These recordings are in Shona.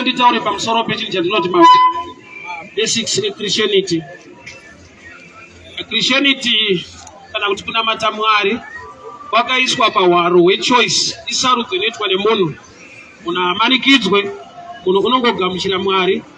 nditaure pamusoro pechinhu chandinoti ma basics echristianity christianity kana kuti kunamata mwari kwakaiswa pahwaro hwechoice isarudzo inoitwa nemunhu munhu amanikidzwe munhu unongogamuchira mwari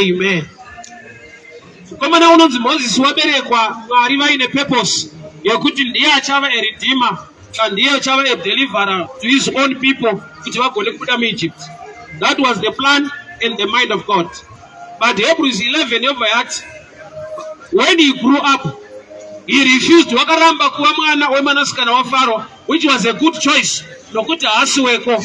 Amen. Mukomana unonzi Moses waberekwa Mwari vaine purpose yekuti ndiye achava a redeemer and ndiye achava a deliverer to his own people kuti vagone kubuda muEgypt. That was the plan and the mind of God. But Hebrews 11 yobva yati when he grew up he refused wakaramba kuva mwana wemwanasikana waFaro which was a good choice nokuti haasi weko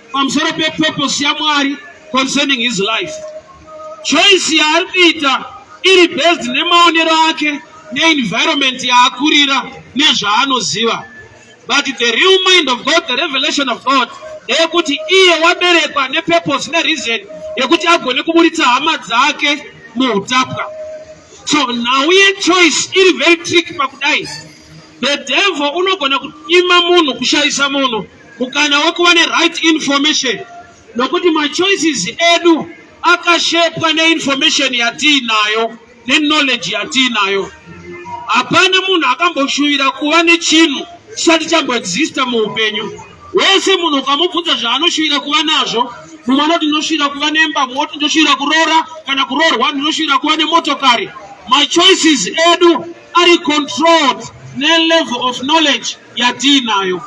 pamusoro pepurpose yamwari concerning his life choice yaari kuita iri based nemaonero ake neenvironment yaakurira nezvaanoziva but the real mind of god the revelation of god ndeyekuti iye waberekwa nepurpose nereason yekuti agone kuburitsa hama dzake muutapwa so nhau yechoice iri very trick pakudai the devil unogona kunyima munhu kushaisa munhu mukana wekuva neright information nokuti machoices edu akashepwa neinformation yatiinayo neknowledge yatiinayo hapana munhu akamboshuvira kuva nechinhu chisati chamboexista muupenyu wese munhu ukamubvunza zvaanoshuvira kuva nazvo mumwe anoti ndinoshuvira kuva nemba mumwe oti ndinoshuvira kuroora kana kuroorwa ndinoshuvira kuva nemotokari machoices edu ari controlled nelevel of knowledge yatiinayo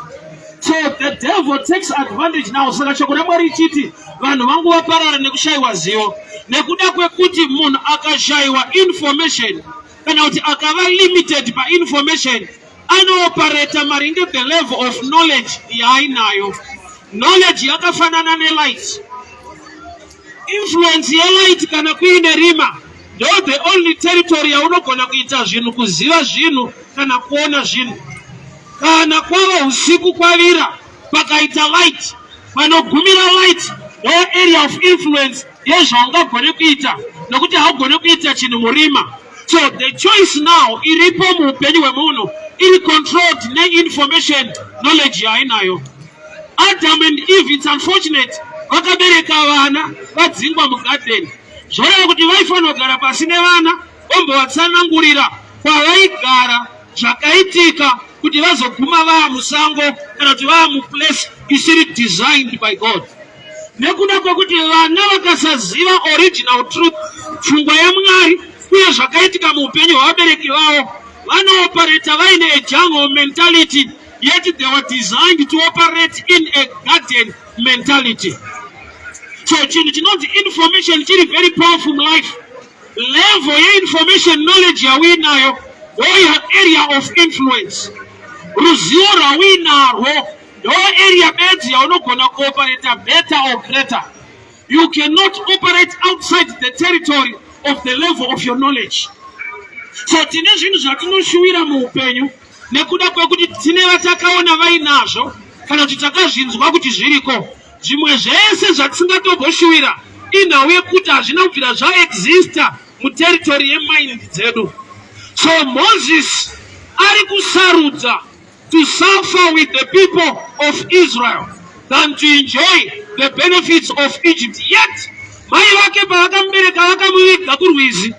so the devil takes advantage now saka shoko ramwari richiti vanhu vangu vaparara nekushayiwa zivo nekuda kwekuti munhu akashayiwa information kana kuti akava limited painformation anoopareta maringe the level of knowledge yaainayo knowledge yakafanana nelight Influence yelight kana kuine rima ndo the only territory yaunogona kuita zvinhu kuziva zvinhu kana kuona zvinhu kana kwava usiku kwavira pakaita light panogumira light ndo area of influence yezvaungagone kuita nokuti haugone kuita chinhu murima So the choice now iripo muupenyu hwemunhu iri controlled neinformation knowledge yainayo. Adam and Eve it's unfortunate vakabereka vana vadzingwa mugarden zvoreva kuti vaifanira kugara pasi nevana vombovatsanangurira kwavaigara zvakaitika kuti vazoguma vaa musango kana kuti vaa muplace isiri designed by God. nekuda kwekuti vana vakasaziva original truth pfungwa yamwari uye zvakaitika muupenyu hwevabereki vavo vanopareta vaine ejangle mentality yet they were designed to operate in a garden mentality so chinhu chinonzi information chiri very powerful mulife level yeinformation knowledge yauinayo or your area of influence ruzivo rwauinarwo Ndo area bedzi yaunogona kuoperata better or greater. You cannot operate outside the territory of the level of your knowledge. So tine zvinhu zvatinoshuwira muupenyu nekuda kwekuti tine vatakaona vainazvo kana kuti takazvinzwa kuti zviriko. Zvimwe zvese zvatisingatomboshuwira inhau yekuti hazvina kubvira zvaexista muteritori yemind dzedu. So Moses ari kusarudza to suffer with the people of Israel than to enjoy the benefits of Egypt yet mai vake pavakamubereka vakamuviga kurwizi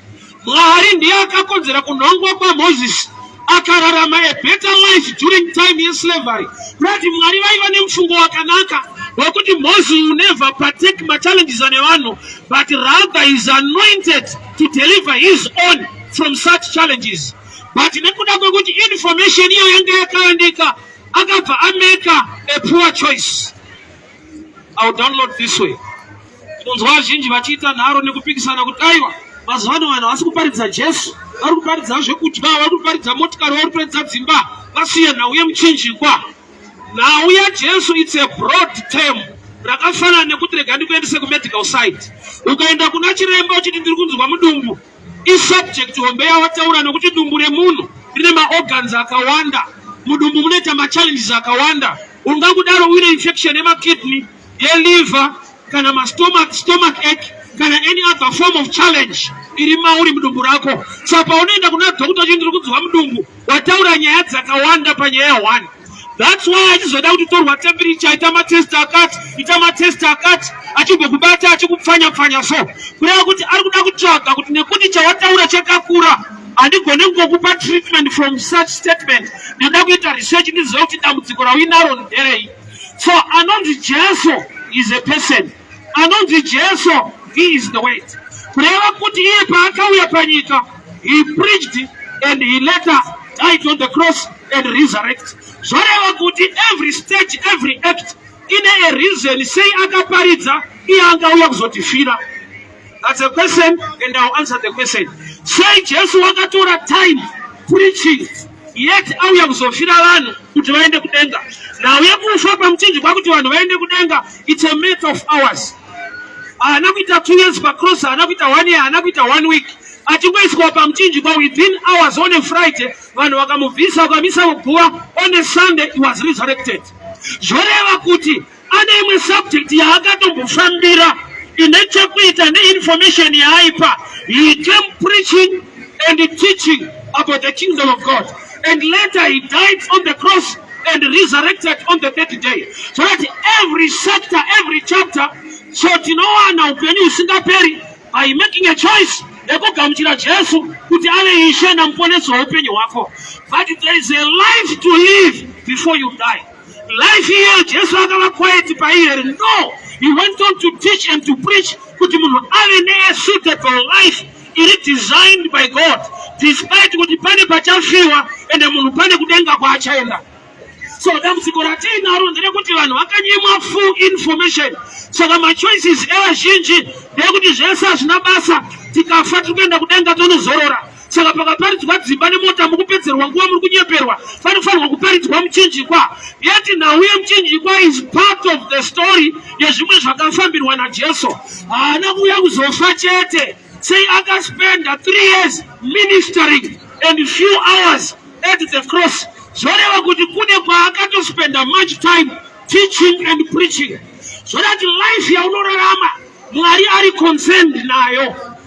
mwari ndiye akakonzera kunhongwa kwamozisi akararama a better life during time yeslavery kurati mwari vaiva nemufungo wakanaka wekuti moses will never partake machallenges ane vanhu but rather is anointed to deliver his own from such challenges but nekuda kwekuti information iyo yanga yakayandika akabva ameka a poor choice iw download this way tinonzwa vazhinji vachiita nharo nekupikisana kuti aiwa mazuva ano vanhu havasi kuparidza jesu vari kuparidza zvekudya vari kuparidza motikari vari kuparidza dzimba vasiye nhau yemuchinjikwa nhau yajesu its a broad term rakafanana nekuti rega ndikuendese kumedical side ukaenda kuna chiremba uchiti ndiri kunzwa mudumbu isubject hombe yawataura nokuti dumbu remunhu rine maorgans akawanda mudumbu munoita machallenges akawanda ungakudaro uine infection yemakidney yeliver kana mastomach stomach ache kana any other form of challenge iri mauri mudumbu rako so paunoenda kuna dhokota chii ndiri kudziwa mudumbu Wataura nyaya dzakawanda panyaya one. That's why achizoda kuti torwa temperature ita matest akati ita matest akati achigokubata achikupfanya pfanya so kureva kuti ari kuda kutsvaga kuti nekuti chawataura chakakura handigone kungokupa treatment from such statement ndinoda kuita research ndiziva kuti dambudziko rauinaro nderei so anonzi jesu is a person anonzi Jesu he is the way kureva kuti iye paakauya panyika he preached and he later died on the cross and resurrect zvoreva kuti every stage every act ine a reason sei akaparidza iye angauya kuzotifira That's a question and I'll answer the question. Sei Jesu wakatora time preaching yet auya kuzofira vanhu kuti vaende kudenga. Nhau yekufa pamuchinjikwa kuti vanhu vaende kudenga it's a matter of hours. Haana kuita two years pacross, haana kuita one year, haana kuita one week. Achingoiswa pamuchinjikwa within hours on a Friday vanhu vakamubvisa vakamisa kuguva on a Sunday he was resurrected. Zvoreva kuti Ane imwe subject yaakatombofambira ine chekuita neinformation yaaipa. He came preaching and teaching about the kingdom of God and later he died on the cross and resurrected on the third day. So that every sector, every chapter, so tinowana upenyu husingaperi by making a choice yekugamuchira Jesu kuti ave ishe namuponesi weupenyu hwako. But there is a life to live before you die. life here jesu akava quiet pai here no he went on to teach and to preach kuti munhu ave neasuitable life iri designed by god despite kuti pane pachafiwa ende munhu pane kudenga kwaachaenda so dambudziko ratiinaro nderekuti vanhu vakanyimwa full information saka machoices evazhinji ndeyekuti zvese hazvina basa tikafa tiri kuenda kudenga tonozorora saka pakaparidzwa dzimba nemota mukupedzerwa nguva muri kunyeperwa panofanirwa kuparidzwa muchinjikwa yeti nhau yemuchinjikwa is part of the story yezvimwe zvakafambirwa najesu haana kuuya kuzofa chete sei akaspenda three years ministering and few hours at the cross zvoreva kuti kune kwaakatospenda much time teaching and preaching zvorati life yaunorarama mwari ari concerned nayo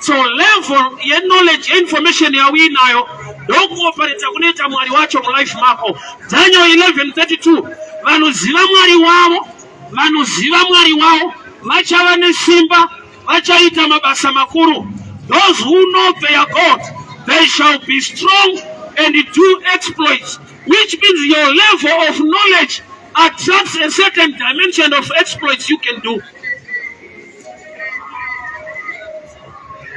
So level ye knowledge information yauinayo ndokuopereta kunoita mwari wacho mulife mako. Daniel 11:32 vanoziva mwari wavo, vanoziva mwari wavo vachava nesimba, vachaita mabasa makuru. Those who know their God, they shall be strong and do exploits, which means your level of knowledge attracts a certain dimension of exploits you can do.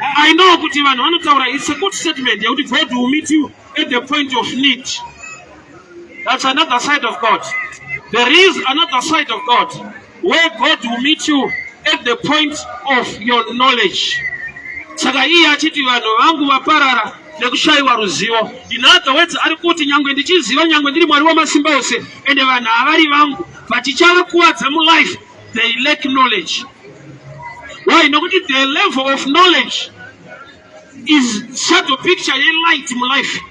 I know kuti vanhu vanotaura it's a good statement yekuti God will meet you at the point of need. That's another side of God. There is another side of God where God will meet you at the point of your knowledge. Saka iye achiti vanhu vangu vaparara nekushayiwa ruzivo. In other words, ari kuti nyangwe ndichiziva nyangwe ndiri Mwari wamasimba ose ende vanhu havari vangu but chichavakuwadza mulife they lack knowledge why nokuti the level of knowledge is shadow picture yelight mulife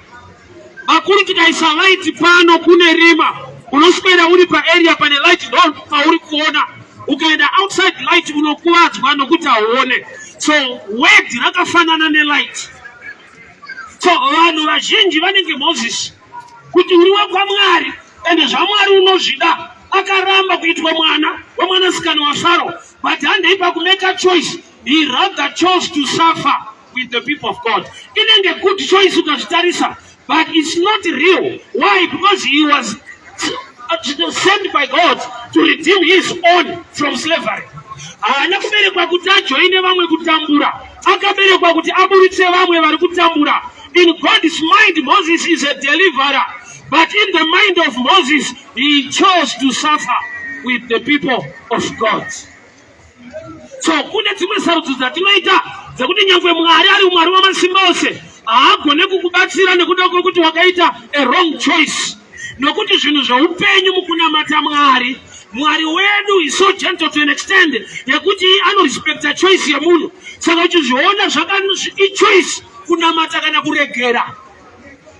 vakuru tikaisa light pano kune rima unoswera uri paarea pane light ndo pauri kuona ukaenda outside light unokuvadzwa nokuti hauone so word rakafanana nelight so vanhu vazhinji vanenge moses kuti uri wekwamwari ende zvamwari unozvida akaramba kuitwa mwana wemwanasikana wasaro but handei pakumeka choice he rather chose to suffer with the people of god inenge good choice ukazvitarisa but it's not real why because he was uh, sent by god to redeem his own from slavery haana kuberekwa kuti ajoine vamwe kutambura akaberekwa kuti aburitse vamwe vari kutambura In God's mind, Moses is a deliverer. But in the mind of Moses, he chose to suffer with the people of God. So kune dzimwe sarudzo dzatinoita dzekuti nyangwe Mwari ari Mwari wamasimba ose haagone kukubatsira nekuda kwekuti wakaita a wrong choice nokuti zvinhu zveupenyu mukunamata Mwari mwari wedu is so gentle to an extend yekuti anorespecta choice yemunhu saka uchizviona zvakaichoice kunamata kana kuregera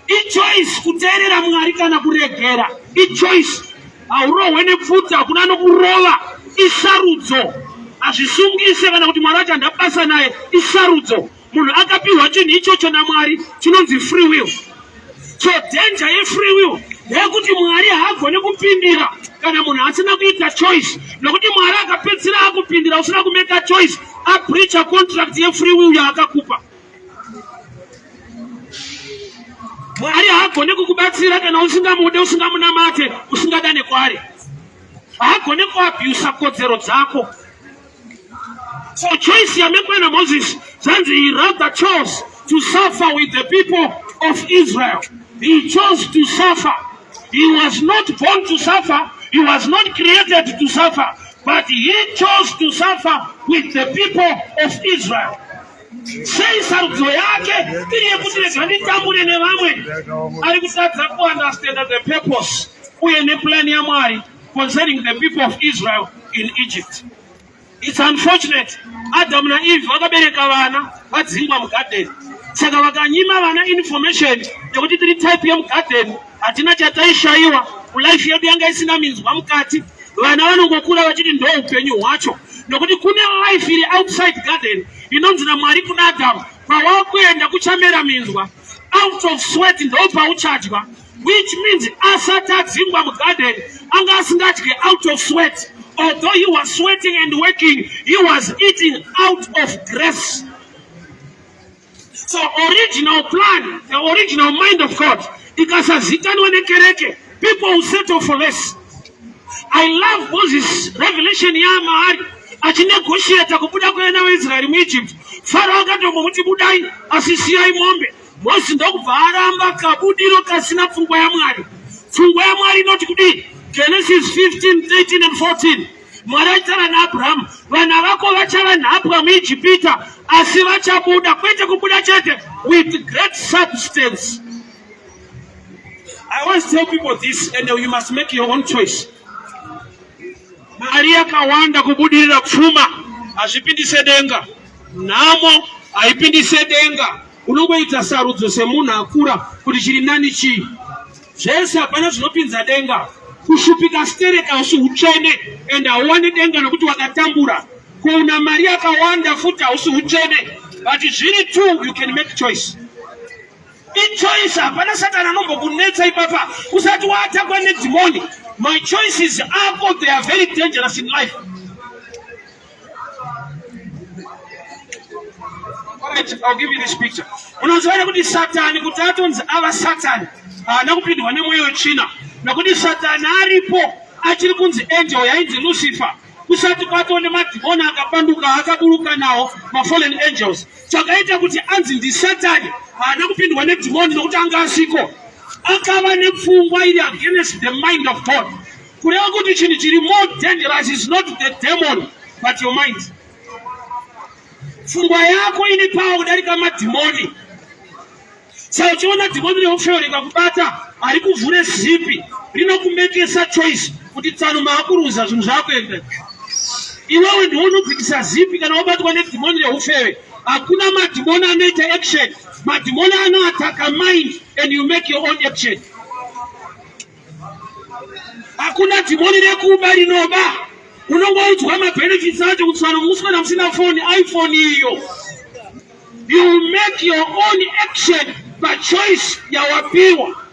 ichoice kuteerera mwari kana kuregera ichoice haurohwe nepfudzi hakuna nokurova isarudzo hazvisungise kana kuti mwari wacho handabasa naye isarudzo munhu akapiwa chinhu ichocho namwari chinonzi free will so danger yefree will ndeyekuti mwari haagone kupindira kana munhu asina kuita choice nokuti mwari akapedzisira akupindira usina kumeka choice abricha contract yefree will yaakakupa mwari haagone kukubatsira kana usingamude usingamunamate usingadane kwaari haagone kuabhusa kodzero dzako For choice yamekwana Moses, zvanzi he rather chose to suffer with the people of Israel. He chose to suffer. He was not born to suffer. He was not created to suffer. But he chose to suffer with the people of Israel. sei sarudzo yake iri yekuti rega nditambure nevamwe ari kutadza kuunderstanda the purpose uye nepulani yamwari concerning the people of Israel in Egypt. It's unfortunate. Adam na Eve vakabereka vana vadzingwa mugarden. Saka vakanyima vana information yekuti tiri type yemugarden hatina chataishaiwa mulife yedu yanga isina minzwa mukati. Vana vanongokura vachiti ndo upenyu hwacho nokuti kune life iri outside garden inonzi naMwari kuna Adam kwawakuenda kuchamera minzwa out of sweat ndo pauchadya which means asati adzingwa mugarden anga asingadye out of sweat although he was sweating and working he was eating out of grace so original plan the original mind of god ikasazikanwa nekereke people will settle for less i love moses revelation yaamahari achinegotiata kubuda kweana weisraeri muegypt faro akatombomuti budai asi siyai mombe Mozisi ndokubva aramba kabudiro kasina pfungwa yaMwari. Pfungwa yaMwari inoti kudii? Genesis 15, 13 and 14. Mwari aitaura naAbrahamu, vana vako vachava nhapwa muIjipita, asi vachabuda, kwete kubuda chete, with great substance. I always tell people this and you must make your own choice. Mari yakawanda kubudirira pfuma hazvipindise denga. Nhamo haipindi sedenga, unongoita sarudzo semunhu akura kuti chiri nani chii. Zvese hapana zvinopinza denga. Kushupika stereka hausi utsvene and hauwani denga nokuti wakatambura. Kuona mari yakawanda futi hausi utsvene but zviri two you can make choice ichoice hapana satani anombokunetsa ipapa usati waatakwa nedhimoni my choices ako they are very dangerous in life I'll give you this picture. Unazoona kuti Satani kuti atonzi ava Satani haana kupindwa nemweyo china nokuti Satani aripo achiri kunzi angel yainzi Lucifer kusati kwatoo nemadhimoni akapanduka akaburuka nawo mafallen angels chakaita kuti anzi ndisatani haana kupindwa nedhimoni nokuti anga asiko akava nepfungwa iri against the mind of god kureva kuti chinhu chiri more dangerous is not the demon but your mind pfungwa yako ine pawa kudarika madhimoni sa uchiona dhimoni reofeoreka kubata ari kuvhure zipi rinokumekesa choice kuti tsano maakuruza zvinhu zvakuenda iwewe ndiwo unobvitisa zipi kana wabatwa nedhimoni reufewe hakuna madhimoni anoita action madhimoni anoataka mind and you make your own action hakuna dhimoni rekuba rinoba unongoudzwa mabenefits acho kuti fana kukuswera musina foni iphone iyo you make your own action pachoice yawapiwa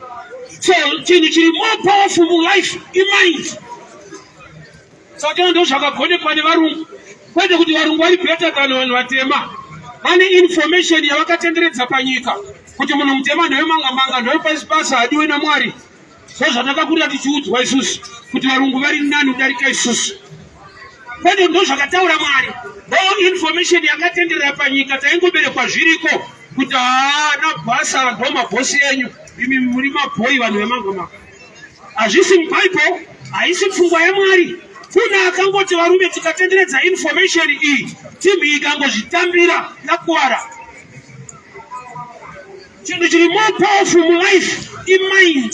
so chinhu chiri more powerful mulife imind Saka ndozvakagonekwa nevarungu kwete kuti varungu vari better than vanhu vatema vane information yavakatenderedza panyika kuti munhu mutema nhoyo manga manga nhoyo pasi pasi hadiwe namwari so zvatakakurira tichiudzwa isusu kuti varungu vari nani kudarika isusu kwete ndo zvakataura mwari all information yakatenderera panyika taingoberekwa zviriko kuti haa nabhasa ndo mabhosi enyu imi muri mabhoyi vanhu vemanga manga Hazvisi muBible, haisi pfungwa yaMwari. Kuna akangoti varume tikatenderedza information iyi, team iyi ikangozvitambira yakuvara. Chinhu chiri more powerful mulife imind,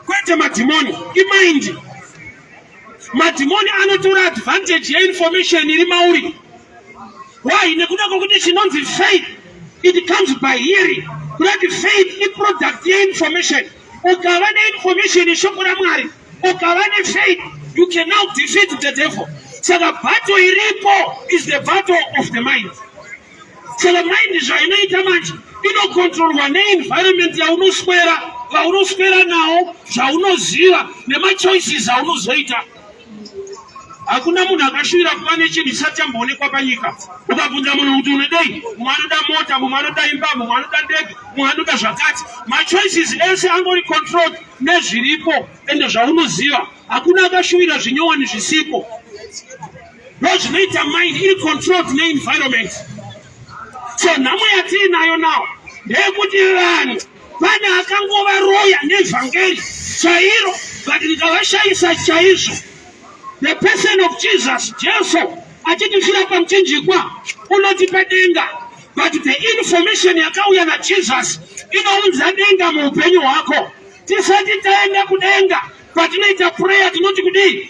kwete madhimoni, imind. Madhimoni anotora advantage yeinformation iri mauri. Why? Nekuda kwekuti chinonzi faith it comes by hearing. Kudati faith iproduct yeinformation. Ukava neinformation yeshoko raMwari, ukava nefaith, you can now defeat the devil. Saka battle iripo is the battle of the mind. Saka mind zvainoita manje inokontrolwa neenvironment yaunoswera vaunoswera nawo zvaunoziva nemachoices aunozoita hakuna munhu akashuvira kuva nechinhu chisati chamboonekwa panyika ukabvunza munhu kuti unodei mumwe anoda mota mumwe anoda imba mumwe anoda ndege mumwe anoda zvakati machoices ese angori controlled nezviripo ende zvaunoziva hakuna akashuvira zvinyowani zvisipo ndo zvinoita mind iri controlled neenvironment so nhamo yatiinayo nawo ndeyekuti vanhu pane akangovaroya nevhangeri chairo but ndikavashaisa chaizvo the person of jesus jesu achitifira pamuchinjikwa unotipa denga but the information yakauya najesus inounza denga muupenyu hwako tisati taenda kudenga patinoita prayer tinoti kudii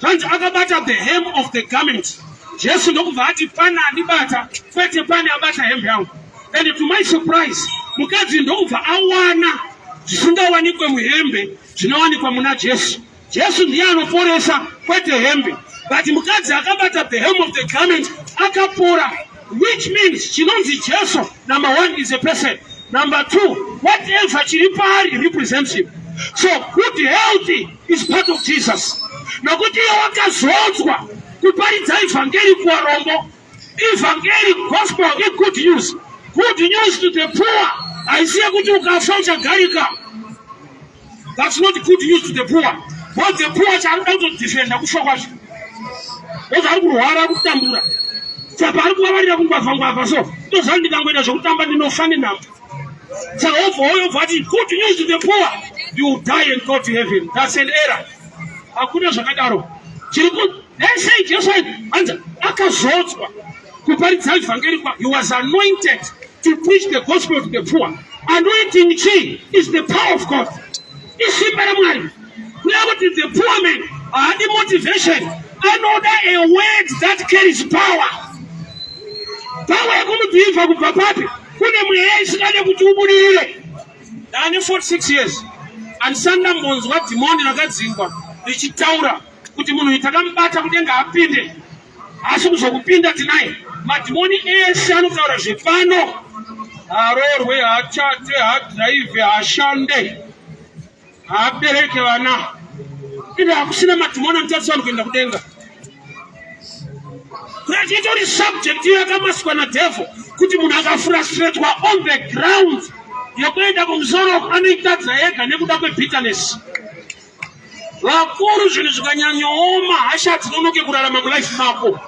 Zvanzi akabata the hem of the garment. Jesu ndokubva ati pane andibata kwete pane abata hembe yangu. And to my surprise, mukadzi ndokubva awana zvisingawanikwe muhembe zvinowanikwa muna Jesu. Jesu ndiye anoporesa kwete hembe. But mukadzi akabata the hem of the garment akapora Which means chinonzi Jesu number one is a person. Number two, whatever chiri paari represents him. So good health is part of Jesus. Nokuti iye wakazodzwa kuparidza evhangeri kuvarombo. Evhangeri gospel i good news. Good news to the poor. Haisi yekuti ukafa uchagarika. That's not good news to the poor. Because the poor shall not defend the kufa kwacho. Because ari kurwara kutambura. Saka ari kuvavarira kungwavha ngwavha so. Ndozvani ndikangoita zvekutamba ndinofa nenhamo. Saka obva oyo obva ati good news to the poor. You die and go to heaven. That's an error. Hakuna zvakadaro. Chiri ku They say Jesu anza akazodzwa kuparidza evhangeri kwa he was anointed to preach the gospel to the poor anointing chi is the power of god isimba ramwari nekuti the poor man haadi motivation anoda a word that carries power power yekumudhivha kubva papi kune mweya isingade kuti ubudirire ndane 46 years andisanda mbonzwa dhimoni rakadzingwa richitaura kuti munhu takamubata kudenga apinde asi kuzokupinda tinai madhimoni ese anotaura zvepano haroorwe hachate hadhiraivhe hashande haabereke vana ende hakusina madhimoni anotarisa vanhu kuenda kudenga kurati itori subject iyo yakamaswa nadhevho kuti munhu akafrustratwa on the ground yekuenda kumusoro anoitadzira yega nekuda kwebitterness Vakuru zvinhu zvikanyanyooma hasha dzinonoke kurarama mulife mako.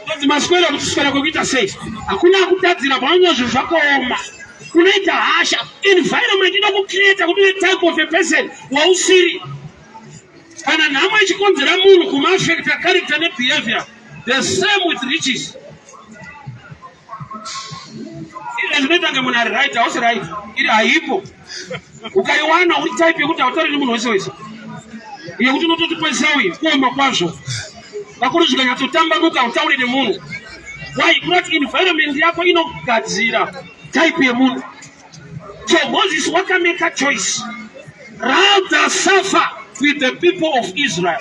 Kuti maswera kuti swera kwekuita sei? Hakuna kutadzira pamwe zvinhu zvakaoma. Unoita hasha environment inokukreata kuti uve type of a person wausiri. Kana nhamo ichikonzera munhu kumaafekta character nebehavior the same with riches. Iri zvinoita kunge munhu ari right hausi right iri haipo ukaiwana uri type yekuti hautauri nemunhu wese wese yekuti unototi kwesawi kuoma kwazvo vakuru zvikanyatsotambambuka hautauri nemunhu why not environment yako inogadzira type yemunhu so moses wakameka choice rather suffer with the people of israel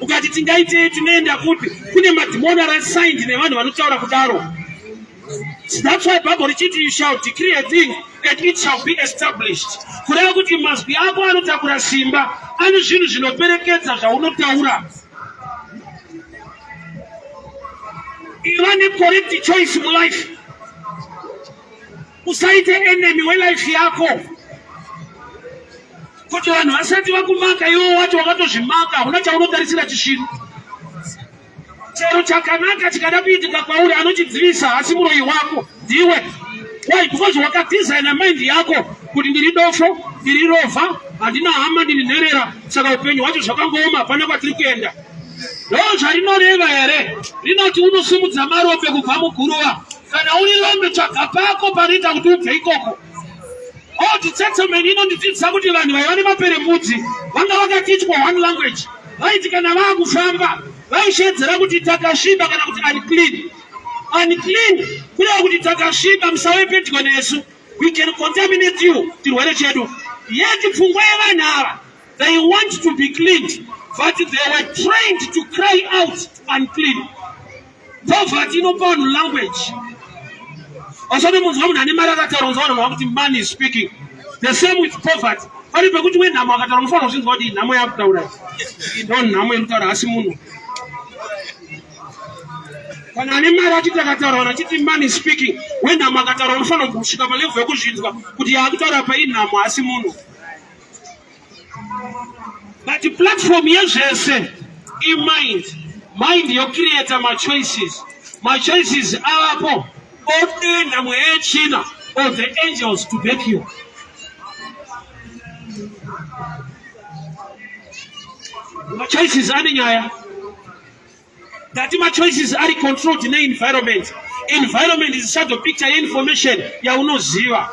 ukati tingaitei tinoenda kupi kune madhimoni arasigned nevanhu vanotaura kudaro that's why bible richiti you shall decree a thing and it shall be established kureva kuti mazwi ako anotakura simba ane zvinhu zvinoperekedza zvaunotaura iva necorrect choice mulife usaite enemy welife yako kuti vanhu vasati vakumaka iwo wacho wakatozvimaka huna chaunotarisira chishiri chero chakanaka chikada kuitika kwauri anochidzivisa asi muroyi wako ndiwe why because wakadesigna mind yako kuti ndiri dofo ndiri rova handina hama ndiri nherera saka upenyu hwacho zvakangooma hapana kwatiri kuenda ndo zvarinoreva here rinoti unosimudza marope kubva muguruva Kana uri rombe tsvaga pako panoita kuti ubve ikoko. All the settlement inondidzidzisa kuti vanhu vaiva nemaperembudzi vanga vakatichwa one language. Vaiti kana vaakufamba vaishedzera kuti takasviba kana kuti unclean. Unclean kureva kuti takasviba musave pedyo nesu. We can contaminate you chirwere chedu. Yeti pfungwa yevanhu ava they want to be cleaned but they were trained to cry out unclean. Poverty inopa vanhu language. Vasati munzwa munhu ane mari akataura unzwa vanhu vakuti man is speaking. The same with poverty. Pari pekuti we nhamo akataura unofanira kuzvinzwa kuti nhamo yakutaura. Ndo nhamo inotara asi munhu. Kana ane mari achiti akataura vanhu achiti man is speaking. We nhamo akataura unofanira kusvika pa level yekuzvinzwa kuti yaakutaura pa inhamo asi munhu. but platform yezvese imind mind yocreata machoices machoices avapo odenha mweya yechina or the angels to back you machoices ane nyaya that ma choices ari controlled ne environment environment is shadow picture ye information yaunoziva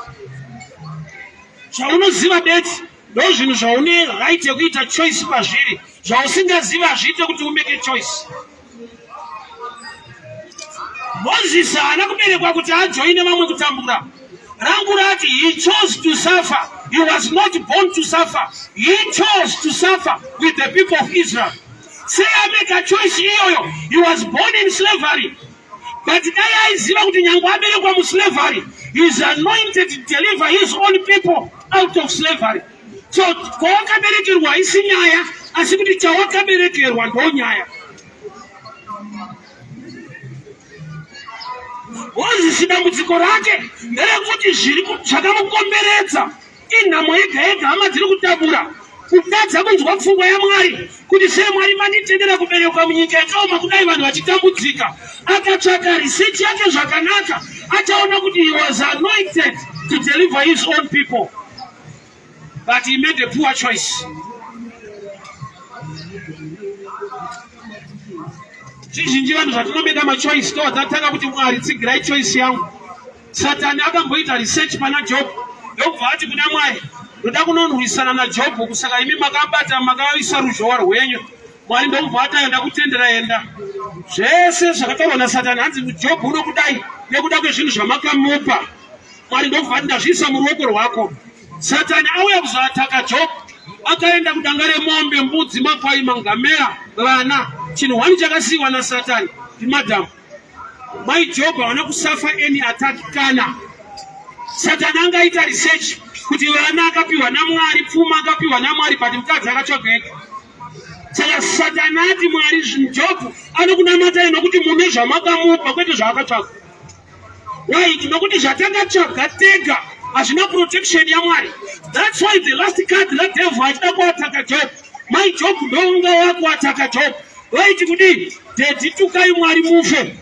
zvaunoziva bet ndo zvinhu zvaune right yekuita choice pazviri zvausingazivi hazviite kuti umeke choice mozisi haana kuberekwa kuti ajoine vamwe kutambura rangu rati he chose to suffer he was not born to suffer he chose to suffer with the people of israel Sei ameka choice iyoyo? He was born in slavery. But dai aiziva kuti nyangwe aberekwa muslavery, he is anointed to deliver his own people out of slavery. So kwawakaberekerwa haisi nyaya, asi kuti chawakaberekerwa ndo nyaya. Wozisi dambudziko rake nderekuti zviri zvakamukomberedza Inhamo yega yega hama dziri kutabura kutadza kunzwa pfungwa yamwari kuti sei mwari manditendera kuberekwa munyika yakaoma kudai vanhu vachitambudzika akatsvaka riseti yake zvakanaka achaona kuti he was anointed to deliver his own people but he made a poor choice chizhinji vanhu zvatinomeda machoice tovatanga kuti mwari tsigirai choice yangu Satani akamboita research pana Job ndokubva ati kuna Mwari, ndoda kunonwisana naJob, kusaka imi makabata makaisa ruzhowa rwenyu. Mwari ndokubva ati ayo ndakutendera, enda. Zvese zvakataurwa naSatani hanzi Job unokudai nekuda kwezvinhu zvamakamupa. Mwari ndokubva ati ndazviisa muruoko rwako. Satani auya kuzoataka Job akaenda kudanga remombe, mbudzi, makwai, mangamera, vana. Chinhu hwani chakasiiwa naSatani ndimadhamu. Mai Job havana kusafa any attack kana Satani angaita research kuti vana akapiwa naMwari, pfuma akapiwa naMwari, but mukadzi akatsvageka. Saka Satani ati Mwari Job anokunamatai nokuti mune zvamakamupa kwete zvaakatsvaga. Why? Nokuti zvatakatsvaga tega hazvina protection yaMwari. That's why the last card that devil achida kuataka Job. Mai Job ndounga wako ataka Job. Waiti kudii? Daddy tukai Mwari mufe.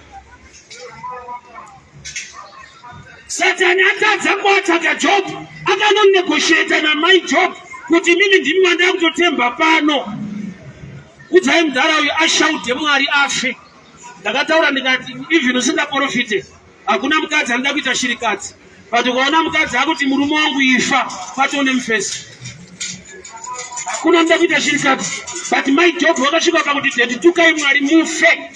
Satani atadza kuataka Job, akanonegosheta namai Job kuti mimi ndimi wandava kutotemba pano. Kudzai mudhara uyu ashaude Mwari afe. Ndakataura ndikati even usingaporofite Hakuna mukadzi anoda kuita shirikadzi. But ukaona mukadzi akuti murume wangu ifa, patone mufesi. Hakuna anoda kuita shirikadzi. But my job wakasvika pakuti daddy tukai Mwari mufe.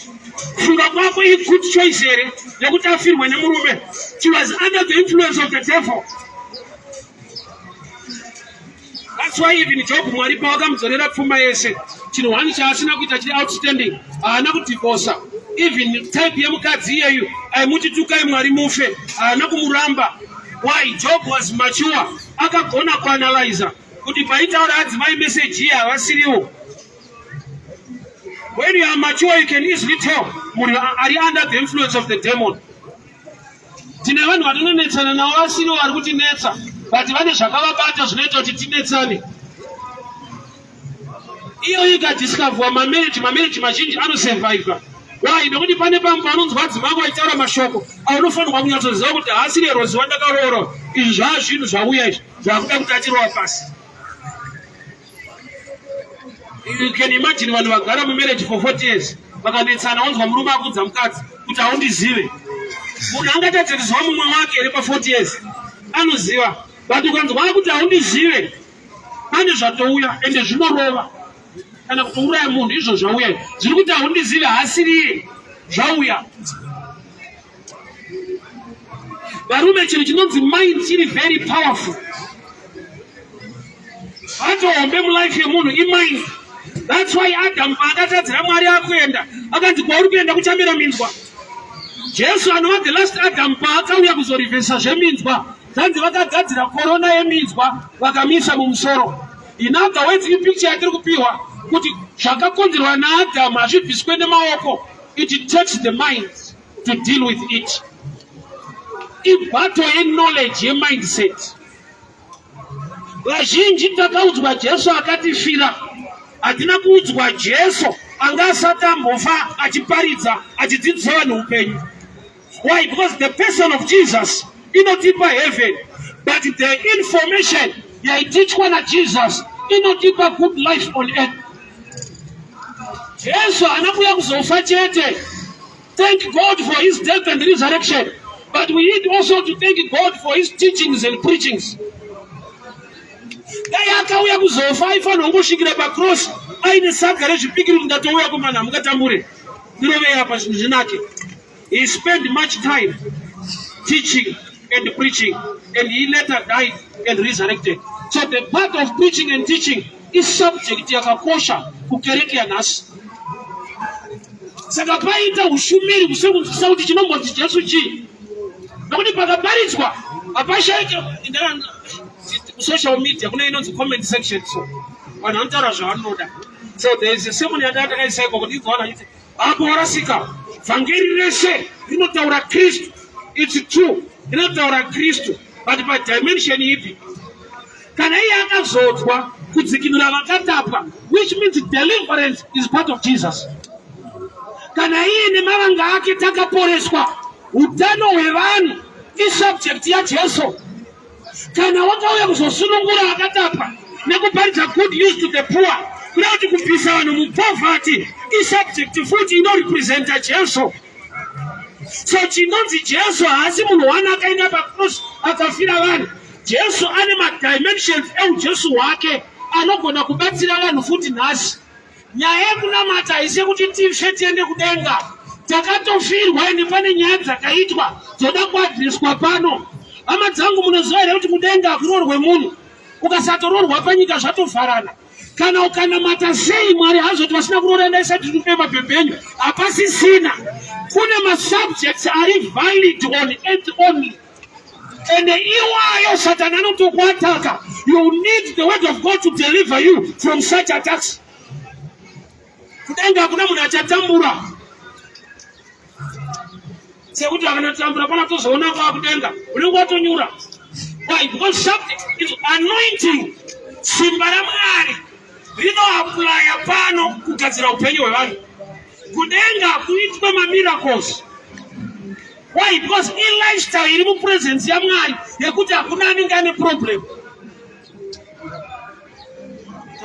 Funga kwako i good choice here yekuti afirwe nemurume. She was under the influence of the devil. That's why even Job Mwari pawakamudzorera pfuma yese chinhu one chaasina kuita chiri outstanding haana kudivosa even type yemukadzi iyeyu aimuti tukai Mwari mufe haana kumuramba why Job was mature akagona kuanalyza kuti paitaura adzimai message iye havasiriwo when you are mature you can easily tell munhu ari under the influence of the demon Tine vanhu vatinonetsana navo vasirivo vari kutinetsa but vane zvakavabata zvinoita kuti tinetsane. Iyoyo ikadiscoverwa mamereji mamereji mazhinji anosurviva. Why? Nekuti pane pamwe panonzwa adzimai ako achitaura mashoko aunofanirwa kunyatsoziva kuti haasiri erozi wandakaroora. Izvi zvaa zvinhu zvauya izvi zvakuda kuti atirowa pasi. You can imagine vanhu vagara mumarriage for 40 years vakanetsana wanzwa murume akudza mukadzi kuti haundizive munhu angatadze kuziva mumwe wake iri pa 40 years anoziva but ukanzwa akuti haundizive pane zvatouya ende zvinorova kana kutouraya munhu izvo zvauya zviri kuti haundizive haasiriye zvauya varume chinhu chinonzi mind chiri very powerful atohombe mulife yemunhu imind thats why adamu paakatadzira mwari akuenda akanzi kwauri kuenda kuchamira minzwa jesu anova the last adamu paakauya kuzorivhesa zveminzwa zvanzi vakagadzira korona yeminzwa vakamisa mumusoro in other words ipicture yatiri kupiwa kuti zvakakonzerwa naadamu hazvibviswe nemaoko It takes the minds to deal with it. Ibato yeknowledge yemindset. Vazhinji takaudzwa Jesu akatifira. Hatina kuudzwa Jesu anga asati ambofa achiparidza achidzidzisa vanhu upenyu. Why? Because the person of Jesus inotipa heaven but the information yaitichwa najesus inotipa good life on earth jesu haana kuya kuzofa chete thank god for his death and resurrection but we need also to thank god for his teachings and preachings dai akauya kuzofa aifanira kungosvikira pacross aine saga rezvipikiri kuti ndatouya kumana hamungatambure ndirovei apa zvinhu zvinake He spent much time teaching and preaching, and he later died and resurrected. So the part of preaching and teaching is subject yakakosha kukereke yanhasi. Saka paita ushumiri kusekunzwisisa kuti chinombonzi Jesu chii, nokuti pakaparidzwa hapashaike social media kune inonzi comment section so vanhu vanotaura zvavanoda so there is a sermon yatakaisa iko kuti igoana Apo warasika, vhangeri rese rinotaura Kristu. It's true, rinotaura Kristu, but by dimension ipi? Kana iye akazodzwa kudzikinura vakatapwa, which means deliverance is part of Jesus. Kana iye nemavanga ake takaporeswa, utano hwevanhu isubject yaJesu. Kana wakauya kuzosunungura vakatapa nekuparidza good news to the poor kuda kuti kubvisa vanhu mupovhati isubject futi inorepresenta Jesu. So chinonzi Jesu haasi munhu wani akaenda pacross akafira vanhu. Jesu ane madimensions eujesu hwake anogona kubatsira vanhu futi nhasi. Nyaya yekunamata haisi yekuti tife tiende kudenga. Takatofirwa ende pane nyaya dzakaitwa dzoda kuadreswa pano. Hama dzangu munoziva here kuti kudenga hakuroorwe munhu. Ukasatoroorwa panyika zvatovharana. Kana ukanamata sei Mwari hazoti vasina kuroora enda isati tiri mabhebhe enyu. Hapasisina. Kune masubjects ari valid on earth only. And iwayo satana anotokuataka you need the word of god to deliver you from such attacks kudenga hakuna munhu achatambura sekuti akanatambura pana tozoona kwaa kudenga unenge watonyura why because something is anointing simba ramwari rinoaplaya pano kugadzira upenyu hwevanhu kudenga kuitwe mamiracles Why? Because in lifestyle iri mupresence yaMwari yekuti hakuna anenge ane problem.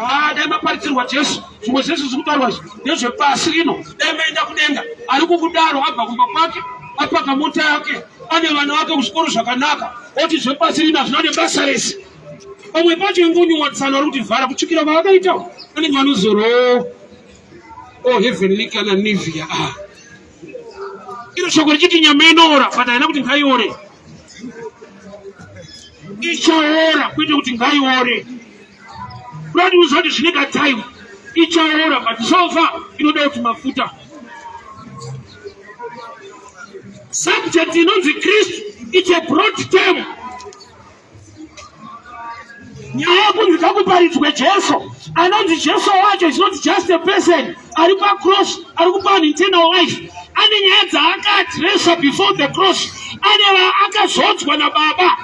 Ah, dai maparidzirwa Jesu zvimwe zvese zviri kutaurwa izvi ndezvepasi rino. Dai maenda kudenga ari kukudaro abva kumba kwake apaka mota yake ane vana vake kuzvikoro zvakanaka oti zvepasi rino hazvina nebasa rese. Pamwe pacho ingonyumwa tsano ari kutivhara kutsvukira kwavakaita vanenge vanozorowo. Oh, heavenly kana Nivea. Ah. iro shoko richiti nyama inoora but haina kuti ngaiore ichaora kwete kuti ngaiore kurati uziva kuti zvine katime ichaora but sofa inoda kuti mafuta subject inonzi kristu its a broad term nyaya yekunzi ngakuparidzwe jesu anonzi jesu wacho is not just a person ari pacross ari kupa vanhu internal life ane nyaya dzaakaadressa before the cross ane vaakazodzwa nababa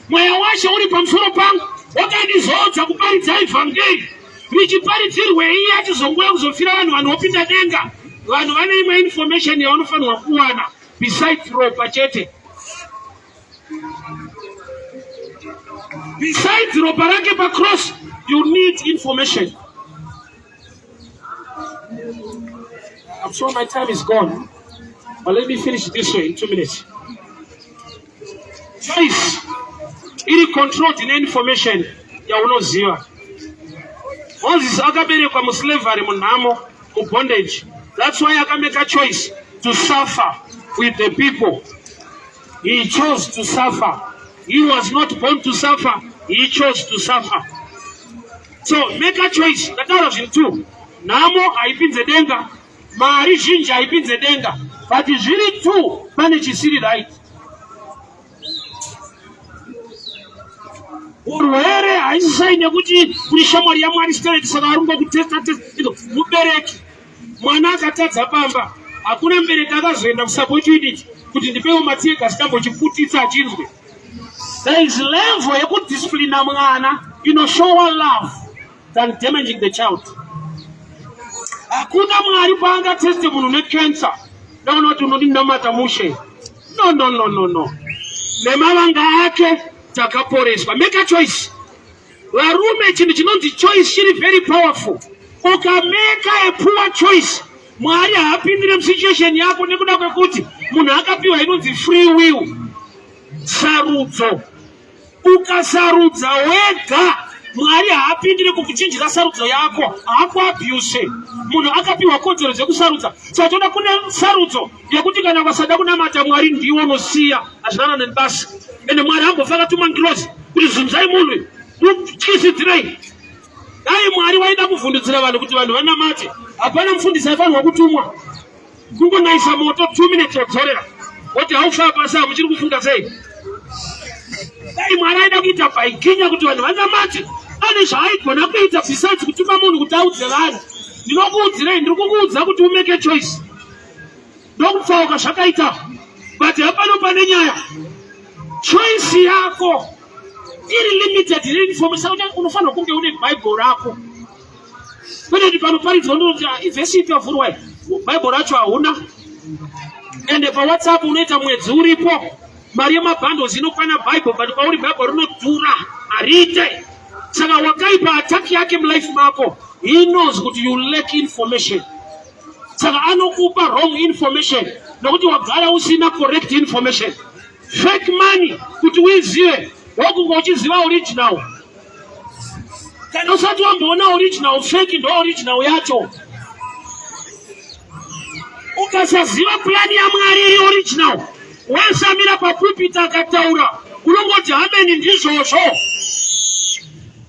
mweya washe uri pamusoro pangu wakandizodza kuparidza evhangeri richiparidzirwei yachizongouya kuzofira vanhu vanhu vopinda denga vanhu vane imwe information yavanofanirwa kuwana besides ropa chete Besides ropa rake pa cross, you need information. I'm sure my time is gone, but let me finish this way in two minutes. Choice iri controlled ine information yaunoziva. Moses akaberekwa muslavery munhamo mubondage. That's why akameka choice to suffer with the people He chose to suffer. He was not born to suffer. He chose to suffer. So make a choice. Ndataura zvinhu two. Nhamo haipinze denga. Mari zhinji haipinze denga. But zviri two pane chisiri right. urwere haisisai nekuti kuri shamwari yamwari stereti saka arungo kutesta testa mubereki mwana akatadza pamba hakuna mbereki akazoenda kusapoti unit kuti ndipewo matsiyega chikambochiputitsa achinzwe there is level yekudisciplina mwana inoshowa love than damaging the child hakuna mwari paangateste munhu necancer ndaona kuti unodinamata mushe no no no no no nemavanga ake takaporeswa make a choice Varume chinhu chinonzi choice chiri very powerful. Ukameka a poor choice Mwari haapindire musituation yako nekuda kwekuti munhu akapiwa inonzi free will sarudzo. Ukasarudza wega mwari haapindire kukuchinjira sarudzo yako haakuabuse munhu akapiwa kodzero dzekusarudza satoda kune sarudzo nekuti kana vasada kunamata mwari ndiwo anosiya azvinana neni basi ende mwari ambofa akatuma ngirozi kuti zunzai munhu mutyisidzirei dai mwari waida kuvhundudzira vanhu kuti vanhu vanamate hapana mufundisi aifanirwa kutumwa kungonaisa moto two minutes wadzorera woti haufaa pasi hamuchiri kufunga sei dai mwari aida kuita baikinya kuti vanhu vanamate ane zvaaigona kuita besides kutuma munhu kuti audze vanhu ndinokuudzirei ndiri kukuudza kuti umeke choice ndokutsauka zvakaita but hapano pane nyaya choice yako iri limited reinformesa kuti unofanirwa kunge une bhaibheri rako kwete kuti panoparidzwa ndoti ah, ivhesi ipi yavhurwa bhaibheri racho hauna ende pawhatsapp unoita mwedzi uripo mari yemabhandles inokwana bible but kwauri bible rinodhura hariite saka wakaipa attack yake mulife mako he knows kuti you lack information saka anokupa wrong information nokuti wagara usina correct information fake money kuti uizive wokunga uchiziva original kana usati wamboona original fake ndo original yacho ukasaziva pulani yamwari iri original wasamira papupita akataura unongoti hameni ndizvozvo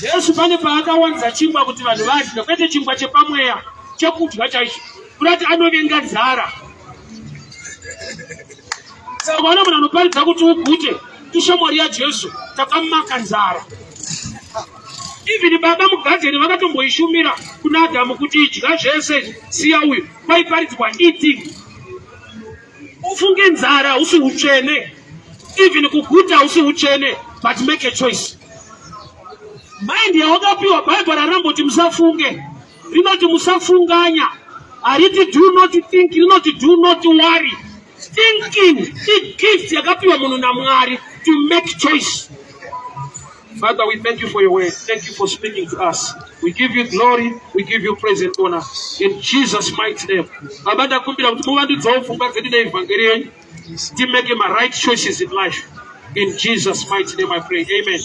Jesu pane paakawanza chingwa kuti vanhu vadye, kwete chingwa chepamweya chekudya chaicho, kurati anovenga nzara. Saka vana munhu anoparidza kuti ugute ishamwari yaJesu takamaka nzara. Even baba mugadzeni vakatomboishumira kuna Adamu kuti idya zvese siya uyu kwaiparidzwa eating Ufunge nzara hausi utsvene, even kuguta hausi utsvene, but make a choice. Mind yawakapiwa Bible raramboti musafunge, rinoti musafunganya, hariti do not think, rinoti do not worry. Thinking i gift yakapiwa munhu naMwari to make choice. Father, we thank you for your word. Thank you for speaking to us. We give you glory. We give you praise and honor. In Jesus' mighty name. Baba ndakumbira kuti muvandudzawo pfungwa dzedu neevhangeri yenyu. Timeke ma right choices in life. In Jesus' mighty name I pray. Amen.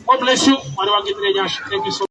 God bless you. Mwari vange tine nyasha. Thank you so much.